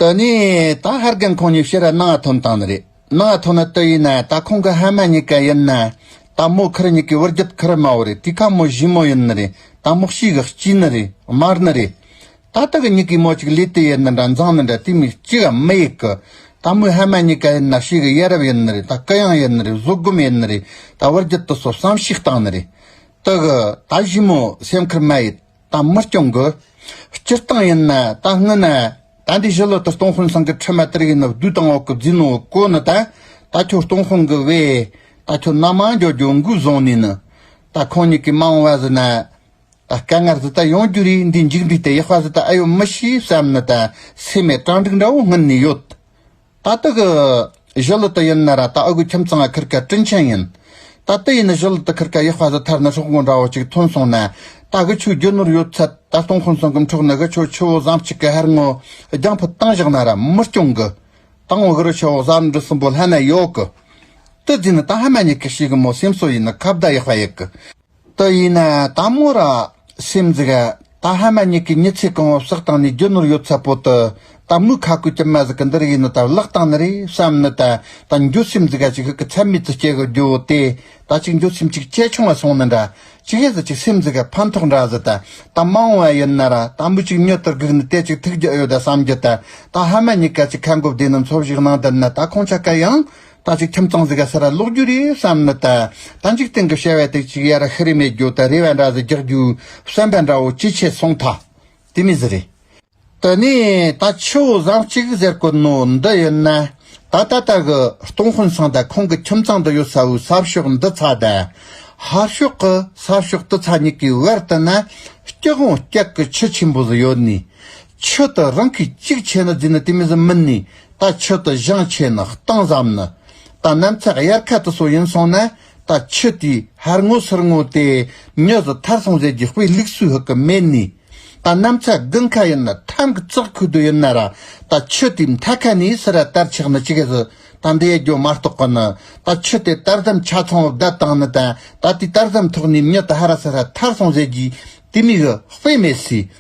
ཏཱ་ནི། ད་ཧར་རྒན་ཁོང་གཉིས་བཤད་ར་གནང་ང་ཐོན་བཏང་ནི་རེད། གནང་ང་ཐོན་ན་ཏི་ཡིན་ན་ད་ཁོང་གི་ཧ་མ་གཉིས་ཀ་ཡིན་ན། ད་མོ་ཁར་གཉིས་ཀའི་བུར་རྒྱུད་ཁར་དམའ་བོ་རེད་དུས་ཁ་མོ་བཞི་མོ་ཡིན་ནི་རེད་ད་མོ་གཤིས་ག་གཅིག་ནི་རེད་དམར་ནི་རེད། ད་ཏི་གི་གཉིས་ཀའི་མོ་གཅིག་ལས་ཏི་ཡིན་ནི་འདྲ་མཛངས་ནི་འདྲ་དུས་མི་གཅིག་གམ་མི་ཡིག་གི། ད་མོའི་ཧ་མ་གཉིས་ཀ་ཡིན་ན་གཤིས་ག་ཡ་རབ་ཡིན་ནི་རེད་ད་ཀི་ཡང་ཡིན་ནི་རེད་བཟོད་སྒོམ་ཡིན་ནི་རེད་ད་བུར་རྒྱུད་དུ་སོ་བསམ་ཞིག་བཏང་ནི་རེད། ཏི་གི། ད་བཞི་མོ་སེམས་ཁར་མ་ཡིད། དང་མི་སྐྱོང་དགོས། སྤྱིར་བཏང་ཡིན་ན་ད་སྔོན་ན། ད་འདི་བཞི་ལོ་དུ་སྟོང་དཔོན་སངས་ཀྱི་ཁྲི་མ་ཏིར་ཡིན་ནོ་བདུད་དང་འོག་གི་རྫིས་ནོ་ཀོ་ནི་ད། ད་ཁྱོད་སྟོང་དཔོན་གི་བས། ད་ཁྱོད་ནག་མང་རྒྱོ་རྒྱོ་མགུ་བཟང་ནས་ནི། ད་ཁོང་གཉིས་ཀྱི་མ་འོང་བ་ཟི་ན། ད་སྐལ་ངར་ཟི་ད་ཡོང་རྒྱུ་རིགས་འདི་འཇིག་འདུས་ཏེ་ཡག་པ་ཟི་ད་ཨེ་ཡོད་མི་ཤེས་བསམ་ནི་ད་སེ་མས་སྤྲང་འགྲིག་འདྲ་བོ་སྔུན་ནས་ཡོད། ད་ལྟ་གི་གཞོལ་ལུ་ཏི་ཡིན་ན་ར་ད་ཨ་གུའི་ཁྱིམ་ཚང་ལ་ཁིར་ཀ་སྤྲིན་ཆེན་ཡིན། ད་ལྟ་ཡིན་ན་གཞོལ་ལུ་ཏི་ཁིར་ཀ་ཡེ་དཔའ་ཟི་ཐར་ནི་སྲོག་འགོ་འདྲ་བོ་གཅིག་ཐོན་སོང་ན། ད་དགུ་ཆོས་རྒྱུ་ནོར་ཡོད་ཚད་ད་སྟོང་ཁོང་ཚང་གི་མཁྲོག་ནི་གི་ཆོས་ཆུ་བོ་བཟང་གཅིག་གི་ཧར་ངོ་རྒྱང་ཕུ་ཏང་བཞག་ན་ར་མི་སྐྱོང་གི། ཏང་བག་རི་ཆུ་བོ་གསར་འབྲི་གསུམ་པོ་ལྷན་ནེ་ཡོག་གི། ཏི་རྫི་ནི་ད་ཧ་མ་ཉི་གི་ཤི་གི་མོ་སེམས་སོ་ཡིན་ན་ཁ་བརྡ་ཡེ་དཔའ་ཡེ་གི། ཏུ་ཡིན་ན་དང་མོ་ར། སེམས་འཛེག། ད་ཧ་མ་གཉིས་ཀའི་མྱི་ཚེ་གང་བོ་བཤགས་བཏང་ནས་རྒྱུ་ནོར་ཡོད་ཚད་པོ་དུ་ད་མོའི་ཁ་ཁུ་ཀྱི་མ་ཟིག་གི་འདི་རིགས་ཡིན་ནོ་ད་བརླག་བཏང་ནི་རེད་བསམ་ནི་ད་ད་འགྱོད་སེམས་འཛེག་ག་ཅིག་ཧུད་ཀི་ཚད་མེད་དུ་སྐྱེ་གི་རྒྱུ་བོ་དེ་ད་ཅིག་འགྱོད་སེམས་ཅིག་ཅེ་ཆུང་བ་སོང་ནི་འདྲ་ཅིག་ཧེ་ཟི་ཅིག་སེམས་འཛེག་ག་ཕན་ཐོག་འདྲ་ཟི་ད་ད་མང་བ་ཡིན་ན་ར་ད་མོ་ཅིག་མྱི་དུར་སྒུག་ནི་དེ་ཅིག་ཐུག་རྒྱུ་ཨེ་ཡོད་ད་བསམ་རྒྱུ་ད་ད་ཧ་མ་གཉིས་ག་ཅིག་ཁ་འགོ་བདེ་ནི་འཚོ་བཞུགས་གནང་དུ་ནི་ད་ཁོང་ཆ་ག་ཡང་ད་གཟིགས་ཁྱིམ་ཚང་ཟིག་ག་ས་ར་སློག་རྒྱུ་རེད་བསམ་ནི་ད་ད་འཇིག་རྟེན་གི་བྱ་བ་དེ་གཅིག་ཡར་ཤི་རེ་མེད་རྒྱུ་ད་རེ་བ་འདྲ་ཟིག་རྒྱག་རྒྱུ་བསམ་པ་འདྲ་བོ་ཅི་བྱེད་གསུངས་ཐ་དེ་མི་ཟི་རེད། དེ་ནས་ད་ཆུ་བོ་ཟངས་གཅིག་ཟེར་གོ་ནོ་འདི་ཡོད་ན་ད་ད་ལྟ་གི་སྟོང་དཔོན་སང་ད་ཁོང་གི་ཁྱིམ་ཚང་འདི་ཡོད་ས་བོའི་ས་ཕྱོགས་འདི་ཚ་ད་ཧར་ཕྱོགས་གི་ས་ཕྱོགས་དི་ཚ་གཉིས་ཀའི་བར་དུ་ན་སྐྱག་བོང་སྐྱག་གི་ཁྱི་ཆེན་པོ་ཟིག་ཡོད་ནི་ཆོས་དང་རང་གིས་གཅིག་ཆད་ན་རྫུན་ནི་དེ་མིན་ཟིན་མིན་ནི་ད་ཆོས་དང་བཞང་ཆད་ན་སྟངས་ཟམ་ནི་ད་གནམ་ཚད་དབྱར་ཁ་དུ་སོ་ཡིན་སོང་ན་ད་ཆོས་དེའི་ཧར་ངོ་སིར་ངོ་དེ་མྱོས་ཟི་ཐར་སོང་ཟེར་གྱི་དཔེ་བླུགས་སུས་ཧུ་གི་མེད་ནི་ད་གནམ་ཚད་དགུན་ཁ་ཡིན་ན་ཐམ་གི་ཙག་ཁུ་དུ་ཡིན་ན་ར་ད་ཆོས་དེའི་མཐའ་ཁ་ནི་སི་ར་དར་ཆག་ནི་ཅི་གི་ཟི་ད་འདི་ཡ་གྱོ་མ་རྟོག་གི་ནི་ད་ཆོས་དེ་དར་ཟམ་ཆ་ཚང་བ་བརྡལ་སྟངས་ནི་ད་ད་དེའི་དར་ཟམ་ཐོག་ནི་མྱོས་ད་ཧ་ར་སི་ར་ཐར་སོང་ཟེར་གྱི་དེ་མི་ཧུ་དཔེ་མེད་སི།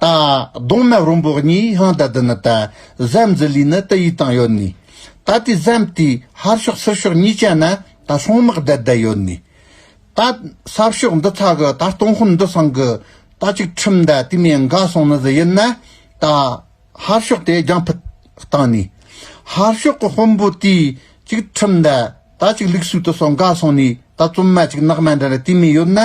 ད་གདོང་མ་རོང་པོ་གཉིས་ཧང་ད་དུ་ནི་ད་གཟའ་འཛི་ལུས་ནི་དུ་ཡིས་བཏང་ཡོད་ནི། ད་དུས་གཟའམ་དུས་ཧར་ཤོག་སིར་ཤོག་གཉིས་བྱས་ན་ད་སྲུང་དམག་བསྡད་བསྡད་ཡོད་ནི། ད་སར་ཤོག་འདི་ཚ་གི་ད་སྟོང་ཧོན་འདི་སང་གི་ད་ཅིག་ཁྲིམས་ད་དུས་མེ་འགའ་སོང་ནི་ཟི་ཡིན་ན་ད་ཧར་ཤོག་དེ་རྒྱང་ཕུད་བཏང་ནི། ཧར་ཤོག་གི་དཔོན་པོ་དུས་ཅིག་ཁྲིམས་ད། ད་ཅིག་ལུག་སུག་ཏུ་སོང་དགའ་སོང་ནས་ད་བཙུན་མ་ཅིག་ནག་མ་འདྲ་རེ་དུས་མིན་ཡོད་ན།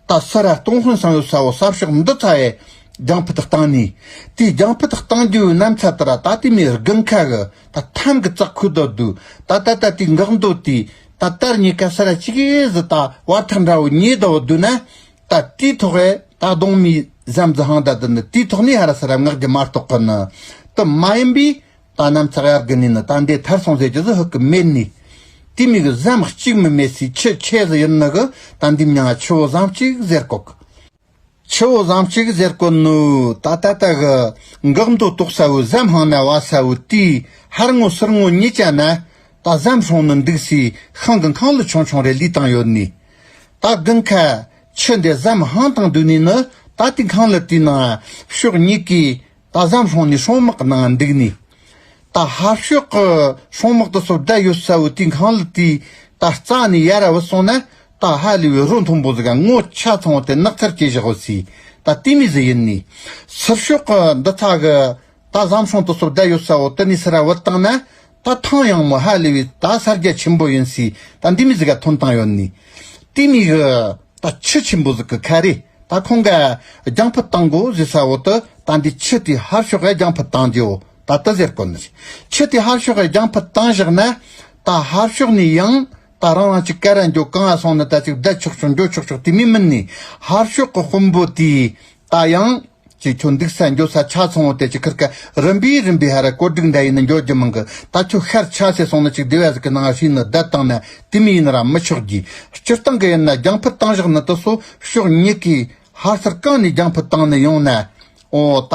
ད་སུ་ར་སྟོང་ཧོན་སང་ཡོད་ས་བོ་སར་ཤོག་འདི་ཚ་བས། རྒྱང་ཕུ་ཐག་བཏང་ནས། དེ་རྒྱང་ཕུ་ཐག་བཏང་རྒྱུ་ཡོད་ནམ་ཚ་དུ་ར་ད་དུས་མིན་རྒུན་ཁ་གི་ད་ཐམ་གི་ཙག་ཁུ་དོ་དུ་ད་ད་ད་དུས་འགག་འདོད་དུས་ད་དར་ཉེ་ཁ་སུ་ར་ཅིག་གིས་ཟི་ད་བར་ཐག་འདྲ་བོ་ཉེ་དོ་བོ་དུ་ན། ད་དུས་ཐོག་ཨེ་ད་གདོང་མིའི་ཟམ་ཟི་ཧང་ད་དུ་ནི་དུས་ཐོག་ནས་ཧ་ར་སུ་ར་ངག་རྒྱུ་མ་རྟོག་གི་ནི་དུ་མ་ཡིན་པས། རྟ་རྣམས་ཙག་ཡག་གི་ནི་ནི་རྟ་འདི་ཐར་སོང་ཟེར་གྱི་ཟི་ཧི་གི་མེད་ནི། དེ་མིག་གཟའམ་གཅིག་མི་མེད་སའི་ཆུ་ཆེ་ཟི་ཡིན་ནི་གི་རྟ་འདི་མྱང་ཆུ་བོ་ཟམ་གཅིག་ཟེར་གོ་གི། ཆུ་བོ་ཟམ་གཅིག་ཟེར་གོ་ནི། ད་ད་ད་གི། འགག་མདོ་ཏོག་ས་བོའི་ཟམ་ཧང་ན་བ་ས་བོའི་རྟའི་ཧར་ངོ་སིར་ངོ་གཉིས་ཅན་ན། རྟ་ཟམ་ཧྲོང་ནི་འདུག་སའི་ཤང་གི་མཁང་ལུ་ཆུང་ཆུང་རེ་ལུས་དང་ཡོད་ནི། ད་གི་མཁའ། ཆུ་འདི་ཟམ་ཧང་དང་བསྡུས་ནས་ནི་ད་དེ་མཁང་ལུ་དེའི་ནང་ཕྱོགས་གཉིས་ཀའི་ད་གཟའ་ལྷོ་ནས་ཤོང་དམག་ནང་འདུག་ནས། ད་ཧ་ཤོད་ཀྱི་ཤོང་དམག་དེ་ཚོར་དགྲ་ཡོད་ས་བོ་དུས་གང་ལ་དུས་ད་རྩ་ནས་ཡ་ར་བུ་སོང་ན་ད་ཧ་ལས་བོད་རོ་མཐོན་པོ་ཟིག་ག་ངོ་ཆ་ཚང་བ་དེ་ནག་ཚར་བྱེད་བཞག་བོ་སི་ད་ལྟོས་མེད་ཟི་ཡིན་ནས། སིར་ཤོད་ཀྱི་འདི་ཚ་གི། ད་གཟའ་ལྷོང་དེ་ཚོར་དགྲ་ཡོད་ས་བོ་དུ་ནས་སི་ར་བུ་བཏང་ན། ད་ཐང་ཡང་མོ་ཧ་ལེ་བའི་ད་ས་རྒྱ་ཆེན་པོ་ཡོན་སི་ད་འདི་མི་ཟི་ག་ཐོན་ཐང་ཡོ་ནི། ཏི་མི་ཧི་ད་ཆུ་ཆེན་པོ་ཟི་ཀི་ཁ་རེ་ད་ཁོང་ག་རྒྱང་ཕུ་ཏང་གོ་ཟི་ས་བོ་ཏི་ད་འདི་ཆུ་ཏི་ཧར་ཤོ་ཧ་རྒྱང་ཕུ་ཏང་རྒྱོ་ད་ཏི་ཟེར་ཀོ་ནི། ཆུ་ཏི་ཧར་ཤོ་ཧ་རྒྱང་ཕུ་ཏང་བཞག་ན་ད་ཧར་ཤོ་ནི་ཡང་ད་རང་རང་ཅིག་ཀ་ར་རྒྱོ་གང་ཨ་སོང་ནི་ད་ཅིག་བསྡད་ཆོག་ཆོག་འགྱོ་ཆོག་ཆོག་ཏི་མི་མི་ནི་ཧར་ཤོ་ཀི་དཔོན་པོ་ཏི་ད་ཡང། ཅེས་ཁྱོད་འདུག་ས་འགྱོ་ས་ཆ་ཚང་བོ་དེ་ཅི་ཁར་ཁ་རིམ་པས་རིམ་པས་ཧ་ར་གོ་སྒྲིག་འདྲ་ཡིན་ན་འགྱོ་རྒྱུ་མང་གི་ད་ཁྱོད་ཤར་ཆ་ཟེར་སོང་ན་ཅིག་དེ་བས་གཟིགས་ཀི་ནང་བཞིན་ནི་བསྡད་བཏང་ན་དེ་མི་ཡིན་ར་མི་ཆོག་གི། སྤྱིར་བཏང་གི་ཡིན་ན་རྒྱང་ཕུད་བཏང་བཞག་ནི་དུ་སོ་ཕྱོགས་གཉིས་ཀས་ཧར་སར་གང་ནས་རྒྱང་ཕུད་བཏང་ནི་ཡོང་ན། འོ་ད།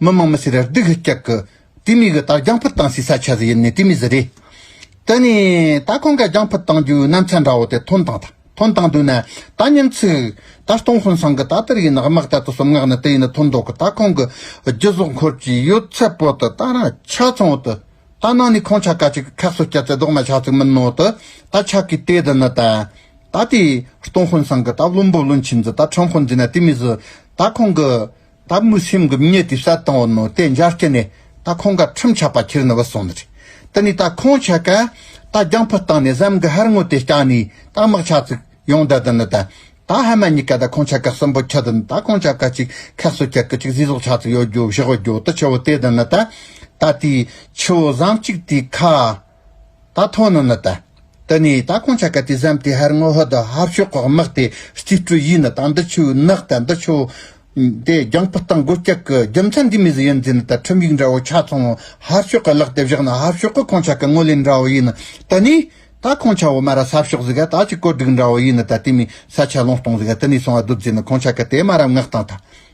མི་དམངས་མི་སེར་ར་སྡིག་ཧི་ཀྱག་གི། དེ་མི་གི་རྟགས་རྒྱང་ཕུད་བཏང་སའི་ས་ཆ་ཟི་ཡིན་ནི་དེ་མི་ཟི་རེད། དེ་ནས་ད་ཁོང་ག་རྒྱང་ཕུད་བཏང་རྒྱུའི་རྣམ་ཆ་འདྲ་བོ་དེ་ཐོན་བཏང་ད་ཐོན་བཏང་དུས་ན་ད་ཉིན་ཚིག། ད་སྟོང་ཧོན་སང་གི་ད་དེར་ཡིན་ནི་དམག་ད་དུ་སུམ་ངག་ནི་དེ་ཡིན་ནི་ཐོན་མདོག་གི་ད་ཁོང་གི་རྒྱུ་ཟོག་འཁོར་གྱི་ཡོད་ཚད་པོ་དི་ད་ར་ཆ་ཚང་བོ་དི་ད་ནང་ནས་ཁོང་ཆ་ག་ཅིག་གི་ཁག་གསོ་སྐྱ་ཚེ་ལྡོག་མ་ཆག་ཚིག་མིན་ནོ་དི་ད་ཆ་གི་དེ་དི་ནི་ད། ད་དེ་སྟོང་ཧོན་སང་གི་ད་བླུན་པོ་བླུན་ཆེན་ཟི་ད་ཁྲོམ་ཧོན་ཟི་ན་དེ་མི་ཟི་ད་ཁོང་གི། ད་མུ་སེམས་གི་མྱི་དེ་བསད་དང་བོ་ནོ་དེ་འཇར་སྐྱེ་ནས་ད་ཁོང་ག་ཁྲིམས་ཆག་པ་ཁྱེར་ནི་བ་སོང་ནི་རེད་དེ་ནི་ད་ཁོང་ཆག་ག་ད་རྒྱང་ཕུ་བཏང་ནས་བཟའམ་གི་ཧར་ངོ་དེ་བསྐྱང་ནི་ད་དམག་ཆག་ཚིག་ཡོང་འདྲ་དི་ནི་ད་ད་ཧ་མ་མྱི་ག་ད་ཁོང་ཆག་ག་གསོན་པོ་ཁྱི་དི་ནི་ད་ཁོང་ཆག་ག་ཅིག་ཁ་གསོ་ཁྱི་གི་ཅིག་བཟི་ཟོག་ཆག་ཚིག་ཡོ་རྒྱོ་བཞི་བོ་རྒྱོ་དི་ཆི་བོ་དེ་དི་ནི་ད་ད་དེའི་ཆི་བོ་བཟང་ཅིག་དེའི་ཁ་ད་ཐོ་ནོ་ནི་ད། དི་ནི་ད་ཁོང་ཆ་ག་དི་བཟའམ་དི་ཧར་ངོ་ཧོ་དི་ཧར་ཤོག་ཁོག་མག་དི་སྟི་སྤྲུ་ཡིས་ནི་ད་འདི་ཆུ་ནག་ད་འདི་ཆོ། དེ་རྒྱང་ཕུ་སྟང་སྒོ་སྐྱག་གི་རྒྱུ་མཚན་དི་མི་ཟི་ཡོན་ཛི་ནི་ད་ཁྲིམས་ཡིག་འདྲ་བོ་ཆ་ཚང་བོ་ཧར་ཤོག་གི་ལག་དེ་བཞག་ནི་ཧར་ཤོག་གི་ཁོང་ཆ་གི་ངོ་ལེ་འདྲ་བོ་ཡིས་ནི་དི་ནི་ད་ཁོང་ཆ་བོ་མ་ར་སབ་ཤོག་ཟི་ག་ད་ཅི་བཀོད་སྒྲིག་འདྲ་བོ་ཡིས་ནི་ད་དི་མི་ས་ཆ་ལོང་སྟོང་ཟི་ག་དི་ནི་སོང་བ་སྡུད་ཛི་ནི་ཁོང་ཆ་གི་དེ་མ་ར་མགག་སྟང་ད།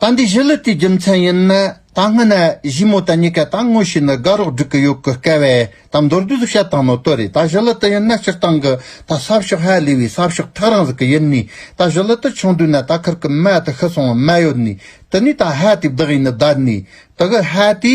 ད་འདི་བཞི་ལི་ཏིའི་རྒྱུ་མཚན་ཡིན། ད་སྔ་ན་བཞི་མོ་ད་གཉིས་ཀ་ད་དངོས་བྱས་ནི་དགའ་རོགས་འགྲིག་གི་ཡོད་གི་སྐལ་བས་ད་མདོར་བསྡུས་སུ་བཤད་སྟངས་ནོར་དོན་རེད་ད་བཞི་ལི་ཏི་ཡིན་ན་སྤྱིར་བཏང་གི་ད་ས་ཕྱོགས་ཧའེ་ལི་བའི་ས་ཕྱོགས་ཐག་རིང་ཟིག་གི་ཡིན་ནི་ད་བཞི་ལི་ཏི་ཆུང་དུས་ན་ད་ཁར་གི་མ་ད་ཤི་སོང་བ་མ་ཡོད་ནི་དེ་ནས་ད་ཧའེ་ཏི་བདག་ཡིན་ནི་ད་ནི་དི་གི་ཧའེ་ཏི།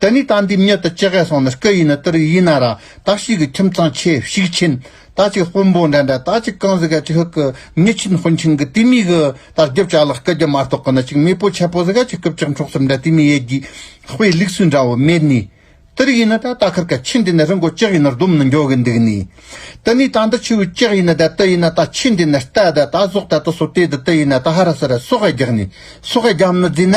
དེ་ནས་ད་འདི་མྱུར་དུ་ཅི་གས་སོང་ནི་སྐུ་ཡིན་ནི་ཏིར་ཡིན་ན་ར་ད་ཤིག་གི་ཁྱིམ་ཚང་ཆེ་ཤིག་ཆེན་ད་ཅིག་དཔོན་པོ་འདྲ་འདྲ་ད་ཅིག་ཀང་ཟི་ག་ཅིག་ཧུག་གི་མྱི་ཆིན་དཔོན་ཆིང་གི་ཏི་མི་གི་ད་རྒྱུ་བྱ་ལགས་སྐུ་རྒྱུ་མ་རྟོག་གི་ནི་ཅིག་མི་པོ་ཆེ་པོ་ཟི་ག་ཅིག་སྐུ་བཅག་འཕྲོག་སུ་འདྲ་ཏི་མི་ཡེ་རྒྱུའི་དཔེ་ལུགས་སུ་འདྲ་བོ་མེད་ནི། ཏིར་ཡིན་ནི་ད་ད་ཁར་གི་ཆིན་དེ་ནི་རི་འགོ་ཅིག་ཡིན་ནི་རྡོམ་ནི་འགྱོ་གི་འདུག་ནི། དེ་ནས་ད་འདི་ཆུ་བོ་ཅིག་ཡིན་ནི་ད་ཏི་ཡིན་ན་ད་ཆིན་དེ་ནི་རྟ་ད་ད་ཟོག་ད་ཏི་སོ་ཏེ་ད་ཏི་ཡིན་ན་ད་ཧ་ར་སི་ར་སོག་ཨེ་རྒྱག་ནི་སོག་ཨེ་རྒྱམ་ནི་རྫི་ན་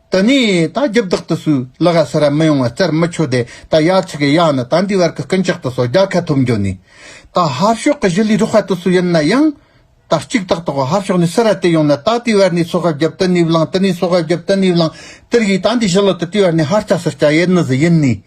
ད་ནི་ད་རྒྱབ་བདག་ཏུ་སུ་ལ་ག་ས་ར་མི་ཡོང་བ་རྩར་མི་ཆོད་དེ་ད་ཡ་ཆི་གི་ཡ་ནི་ད་འདི་བར་གི་ཀུན་ཅག་ཏུ་སོ་རྒྱ་ཁ་ཐོབ་འགྱོ་ནི། ད་ཧར་ཤོག་གི་གཞི་ལུས་རོགས་ཧ་ཏུ་སུ་ཡིན་ན་ཡང། ད་གཅིག་དག་ཏུ་གོ་ཧར་ཤོག་ནི་སི་ར་ཏི་ཡོང་ན་ད་དེ་བར་ནི་སོ་ཧ་རྒྱབ་ཏི་ནི་བླང་ཏི་ནི་སོ་ཧ་རྒྱབ་ཏི་ནི་བླང་ཏིར་གྱིས་ད་འདི་གཞི་ལུ་ཏི་དེ་བར་ནི་ཧར་ཅག་སུ་སྐྱ་ཡེ་ནི་ཟི་ཡིན་ནི།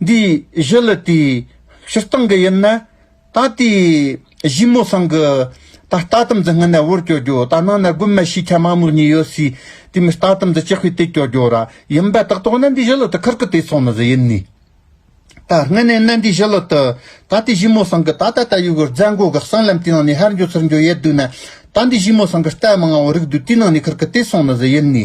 འདི་བཞི་ལ་དེའི་ཕྱིར་བཏང་གི་ཡིན་ན། ད་ལྟའི་བཞུད་མོ་སང་གི་ད་ལྟ་དམ་རྫི་སྔ་ནས་བོར་སྐྱོར་རྒྱུ་ད་ནང་ན་རྒུན་མ་ཤེས་ཁྱ་མ་མོར་གཉིས་ཡོད་སའི་དེ་མི་ལྟ་དམ་རྫི་ཅེ་ཧུད་དེ་སྐྱོར་རྒྱུ་ར་ཡིན་པ་དག་དོག་ན་འདི་བཞི་ལོ་དུ་ཁར་གི་དེ་ཚོ་ནི་རི་ཡིན་ནི། ད་སྔ་ནས་ན་འདི་བཞི་ལོ་དུ་ད་ལྟའི་བཞུད་མོ་སང་གི་ད་ད་ད་ཡུ་གུར་རྫ་མགོ་གི་གསང་ལམ་དེའི་ནང་ནས་ཧར་འགྱོ་ཚུར་འགྱོ་ཡད་འདུག་ན། ད་འདི་བཞུད་མོ་སང་གི་རྟ་མང་བ་རིགས་འདུག་དེའི་ནང་ནས་ཁར་གི་དེ་ཚོ་ནི་རི་ཡིན་ནི།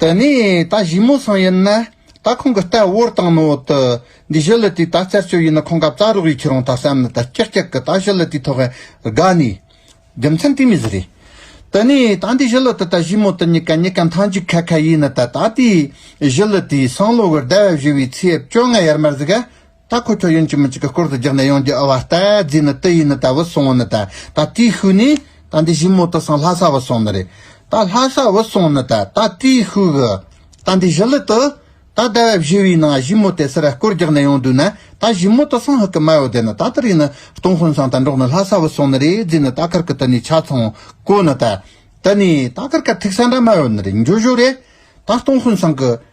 དེ་ནས་ད་གཞིས་མོ་སང་ཡིན་ན། ད་ཁོང་གི་རྟ་བོར་བཏང་ནོ་ཏི། འདི་བཞི་ལི་ཏི་ད་རྩལ་སྤྱོད་ཡིན་ན་ཁོང་གབ་རྩ་རོགས་ཡིན་ཁྱེད་རང་ད་བསམ་ནི་ད་སྐྱག་སྐྱག་གི་ད་བཞི་ལི་ཏི་ཐོག་ཨེ་དགའ་ནི། རྒྱུ་མཚན་དེ་མི་ཟི་རེད། དེ་ནས་ད་འདི་བཞི་ལི་ཏི་ད་གཞིས་མོ་ཏི་གཉིས་ཀ་གཉིས་ཀ་མཐའ་འཇུག་ཁ་ཁ་ཡིན་ན་ད་ད་ལྟའི་བཞི་ལི་ཏིའི་སང་ལོ་གི་ཟླ་བ་བཞི་བའི་ཚེས་བཅོ་ལྔ་ཡར་མར་ཟི་ག། ད་ཁོ་ཚོ་ཡུན་གཅིག་མི་གཅིག་གི་སྐོར་དུ་རྒྱག་ནས་ཡོང་རྒྱུ་ཨ་བ་རྟ་རྫི་ནི་ཏི་ཡི་ནི་ད་བུད་སོང་བ་ནི་ད་ད་ཏིའི་ཤུལ་ནི་ད་འདི་བཞི་མོ་ཏི་སང་ལྷ་ས་བུད་སོང་ནི་རེད་ད་ལྷ་ས་བུད་སོང་ནི་ད་ད་ཏིའི་ཤུལ་གི་ད་འདི་བཞི་ལི་ཏི་ད་ཟླ་བ་བཞི་བའི་ནང་བཞི་མོ་ཏི་སི་ར་སྐོར་རྒྱག་ནས་ཡོང་དུས་ན་ད་བཞི་མོ་ཏི་སང་ཧི་ཀི་མའོ་དེ་ནི་ད་ཏི་རི་ནི་སྟོང་ཧོན་སང་ད་འབྲོག་ནི་ལྷ་ས་བུད་སོང་ནི་རེད་རྫི་ནི་ད་ཁར་ཀི་ཏི་ནི་ཆ་ཚང་ཀོ་ནི་ད་ཏི་ནི་ད་ཁར་ཀ་ཐིག་ས་འདྲ་མ་ཡོད་ནི་རེད་འགྱོ་བཞོ་རེད་ད་སྟོང་ཧོན་སང་ཀི།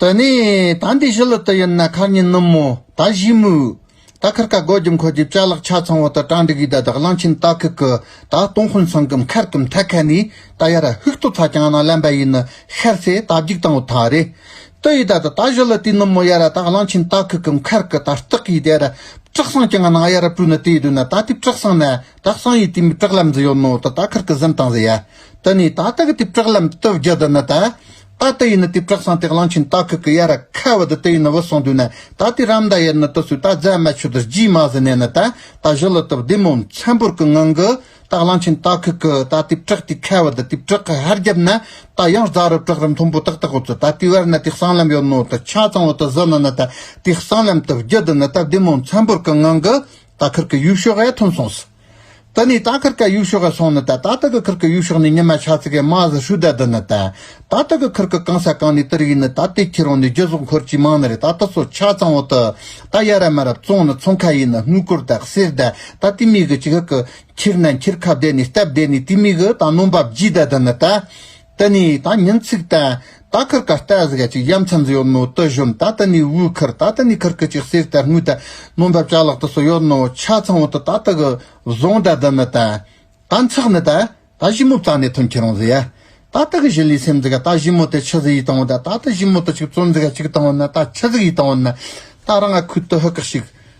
དེ་ནས་ད་འདི་ཞི་ལུ་དུ་ཡིན་ན་ཁར་ཉིན་ནུབ་མོ་ད་བཞི་མོའུ། ད་ཁར་ཀ་སྒོ་རྒྱུ་མཁོ་རྒྱུ་བྱ་ལག་ཆ་ཚང་བ་ད་གྲ་འགྲིག་ཡུལ་ད་དག་གླང་ཆེན་སྟག་ཁུག་གི་ད་སྟོང་ཧོན་སང་གིམ་ཁར་གིམ་ཐ་ཁ་ནི་ད་ཡར་ཧུག་སྟོ་ཚ་ཀྱང་ན་ལན་པ་ཡིན་ནི་ཤར་ཚེ་ད་བརྒྱུག་དང་བུ་ཐ་རེ། དུ་ཡི་ད་ད་ད་བཞི་ལུ་དུས་ནུབ་མོ་ཡར་ད་གླང་ཆེན་སྟག་ཁུག་གིམ་ཁར་གི་ད་སྟག་ཡི་དེར་བྲག་སང་ཀྱང་ན་ཡར་པུ་ནི་དེ་དུས་ན་ད་དེ་བྲག་སང་ན་ད་སང་ཡི་དུས་མི་བྲག་ལམ་ཛི་ཡོད་ནོ་ད་ད་ཁར་གི་ཟིམ་དང་ཟི་ཡ། དུ་ནི་ད་ད་གི་དུས་བྲག་ལམ་དུ་བརྒྱུད་དུ་ནི་ད། ད་ལྟ་ཡིན་ན་དེ་བཀྲག་སངས་ཏེ་གླང་ཆེན་སྟག་གི་གི་ཡ་ར་ཁ་བ་དུ་དེ་ཡིན་ན་བུད་སོང་དུས་ན་ད་དེ་རམ་མདའ་ཡེར་ནི་དུ་སུས་ད་རྫས་མ་ཆུ་དུ་རྗིས་མ་ཟི་ནས་ནི་ད་ད་བཞི་ལི་དུ་བདེ་མོ་མཚན་པོར་གི་ངང་གི་ད་གླང་ཆེན་སྟག་གི་གི་ད་དེ་བཀྲག་དེ་ཁ་བ་དུ་དེ་བཀྲག་གི་ཧར་རྒྱབ་ན་ད་ཡང་རྫ་རི་བཀྲག་རི་མཐོན་པོ་ཏག་ཏག་བུད་ཚུ་ད་དེ་བར་ན་དེ་གསང་ལམ་ཡོད་ནོ་དུ་ཆ་ཚང་བུ་དུ་ཟི་ནི་ནི་ད་དེ་གསང་ལམ་དུ་བརྒྱུད་དུ་ནི་ད་བདེ་མོ་མཚན་པོར་གི་ངང་གི་ད་ཁིར་གི་ཡུལ་ཕྱོགས་ཡ་ཐུམ་སོང་སི། ད་ནི་ད་ཁར་ཀ་ཡུག་ཤོག་ག་སོང་ནི་ད་ད་ད་གི་ཁར་ཀ་ཡུག་ཤོག་ནི་ཉི་མ་ཆ་ཚིག་གི་མ་གཟི་ཧྲུལ་ད་དི་ནི་ད་ད་ད་གི་ཁར་ཀ་གང་ས་གང་ནི་དི་རིག་ནི་ད་དེ་ཁྱེད་རང་ནི་རྒྱུ་ཟོག་འཁོར་གྱི་མང་ནི་རེད་ད་ད་སོ་ཆ་ཚང་བོ་དི་ད་ཡ་རབ་མ་རབ་བཙོང་ནི་ཚོང་ཁ་ཡིན་ནི་སྔུ་གུར་ད་གསེར་ད་ད་དི་མི་གི་ཅི་ཧ་ཀི་འཁྱེར་ན་འཁྱེར་ཁ་བསྡད་ནི་སྟབས་བསྡད་ནི་དི་མི་གི་ད་ནོམ་པ་བརྗིད་ད་དི་ནི་ད། ད་ནི་ད་ཉིན་ཚིག་ད་ད་ཁར་ཀ་རྟ་ཟི་ག་ཅིག་གཡམ་ཚ་འཛི་ཡོད་ནོ་དུ་ཞོན་ད་ད་ནི་དབུས་ཁར་ད་ད་ནི་ཁར་ཀི་ཅིག་གསེར་ད་དངུལ་ད་ནོ་འབབ་ཅག་ལག་ཏུ་སོ་ཡོད་ནོ་ཆ་ཚང་བོ་དུ་ད་ད་གི་བཟང་ད་དུ་མི་ད་ད་འཚག་ནི་ད་ད་བཞི་མོ་བཙག་ནི་ཐུན་ཁྱི་རང་ཟི་ཡ་ད་ད་གི་བཞི་ལི་སེམས་ཟི་ག་ད་བཞི་མོ་དེ་ཆུ་ཟི་ཡི་དང་བོ་ད་ད་ད་བཞི་མོ་དུ་ཅིག་བཙོན་ཟི་ག་ཅིག་དང་བོ་ན་ད་ཆུ་ཟི་གི་དང་བོ་ན་ད་རང་ང་ཁུད་དུ་ཧུ་ཀག་ཤིག་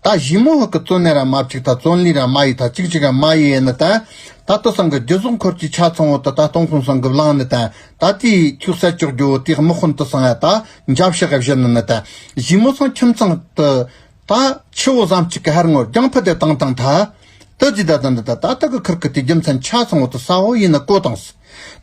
ད་གཞི་མོ་ཧོ་གི་བཙོན་ནས་ར་མ་བཅིག་ད་བཙོན་ལི་ར་མ་ཡི་ད་ཅིག་ཅིག་ར་མ་ཡི་ཡེ་ནི་ད། ད་དོ་སང་གི་རྒྱུ་ཟོག་འཁོར་གྱི་ཆ་ཚང་བོ་ད་ད་སྟོང་ཁུང་སང་གི་བླང་ནི་ད། ད་དེ་ཡི་ཁྱུག་སར་ཅོག་རྒྱུ་བོ་དེ་དམག་དཔོན་དུ་སང་ཡ་ད་འཇབ་ཤག་བཞི་ནི་ནི་ད། གཞི་མོ་སང་ཁྱིམ་ཚང་དུ། ད། ཆུ་བོ་ཟམ་གཅིག་གི་ཧར་ངོར་རྒྱང་ཕུ་དེ་དང་དང་ད། ཏི་ཙི་ད་ཙམ་དུ་ད་ད་ད་གི་ཁུར་ཁུར་དེ་རྒྱུ་མཚན་ཆ་ཚང་བོ་དུ་ས་བོ་ཡིན་ན་གོ་དང་སི་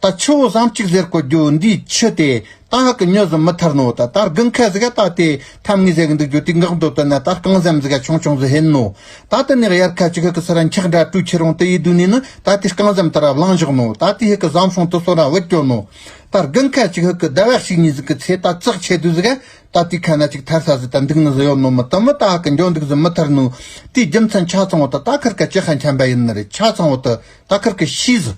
ད་ཆུ་བོ་ཟམ་གཅིག་ཟེར་གོ་རྒྱུ་འདི་ཆུ་དེ་ད་གི་མྱོས་ཟི་མི་ཐར་ནོ་ད་ད་རྒུན་ཁ་ཟི་ག་ད་དེ་ཐམ་ངེས་ཟེར་གི་འདུག་རྒྱུ་དེ་འགག་འདོད་དོན་ན་ད་རྐང་ཟམ་ཟི་ག་ཆུང་ཆུང་ཟི་ཧེན་ནོ་ད་དེ་ནས་དབྱར་ཁ་ཅིག་ཧི་གི་སི་ར་འཁྱག་འདྲ་དྲུས་ཁྱི་རོང་དེ་ཡི་དུས་ནས་ནི་ད་དེ་རྐང་ཟམ་དེ་ར་བླངས་བཞག་ནོ་ད་དེ་ཧི་གི་ཟམ་སྲུང་དུ་སོ་ར་བུད་སྐྱོ་ནོ་ད་རྒུན་ཁ་ཅིག་ཧི་གི་ཟླ་བ་གཅིག་གཉིས་ཟི་གི་ཚེ་ད་ཙག་ཆེ་དུས་ཟི་ག་རྟ་རྩིག་ཁ་ན་ཅིག་ཐར་ས་ཟི་དང་འདུག་ནི་ཟི་ཡོ་ནོ་མི་དང་མི་ཏཱ་ཀི་འགྱོ་འདུག་ཟི་མི་ཐར་ནུ། དེའི་རྒྱུ་མཚན་ཆ་ཚང་བོ་དང་རྟ་ཁར་ཀ་ཅི་ཧ་འཁྱམ་པ་ཡིན་ནི་རེད་ཆ་ཚང་བོ་དུ་རྟ་ཁར་ཀི་ཤི་ཟི།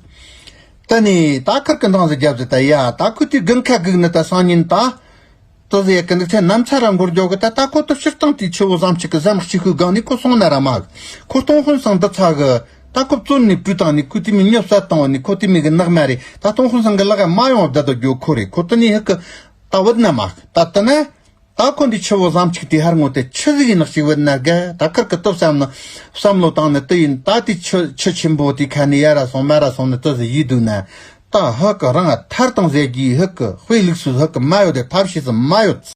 དུ་ནི་རྟ་ཁར་ཀི་འདང་ཟི་རྒྱབ་ཟི་དུ་ཡ་རྟ་ཁུ་དུས་དགུན་ཁ་གུག་ནི་དུ་སང་ཉིན་ད། དུ་ཟི་ཡ་ཀི་འདུག་ཚེ་ནམ་ཚ་ར་མགོར་འགྱོ་གི་དུ་རྟ་ཁོ་དུ་ཕྱིར་བཏང་དུས་ཆུ་བོ་ཟམ་གཅིག་གི་ཟམ་གཅིག་ཤུ་གང་ནི་ཁོ་སོང་ན་ར་མ་གི་ཁོ་སྟོང་ཧོན་སང་དུ་ཚ་གི་རྟ་ཁོ་བཙོན་ནི་བཀྲུས་དང་ནི་ཁུ་དུས་མི་ཉོ་སད་བཏང་བ་ནི་ཁོ་དུས་མི་གི་ནག་མ་རེད་ད་སྟོང་ཧོན་སང་གི་ལག་ཡ་མ་ཡོང་བ་དུ་དུ་འགྱོ་ཁོ་རེད་ཁོ་དུ་ནི་ཧི་ཀི་རྟ་བོད་ན་མ་ད་ད་ན། ད་འཁོན་པའི་ཆུ་བོ་ལམ་ཆིག་དེ་ཧར་ངོ་དེ་ཆུ་གཟིག་ཡིན་ནག་ཅིག་བོད་ན་དགའ་ད་ཁར་གི་སྟོབས་བསམ་ན། བསམ་བློ་བཏང་ནས་ཏི་ཡིན་ད་དེ་ཆུ་ཆུ་ཆེན་པོ་དེ་ཁ་ནས་ཡ་ར་སོང་མ་ར་སོང་ནས་ཏི་ཟི་ཡིས་སྡུག་ན། ད་ཧག་གི་རང་ཨ་ཐར་དང་ཟས་ཀྱིས་ཧིག་གི་དཔེ་ལུགས་སུ་ཧིག་གི་མ་ཡོད་དེ་ཐབས་ཤེས་སུ་མ་ཡོད།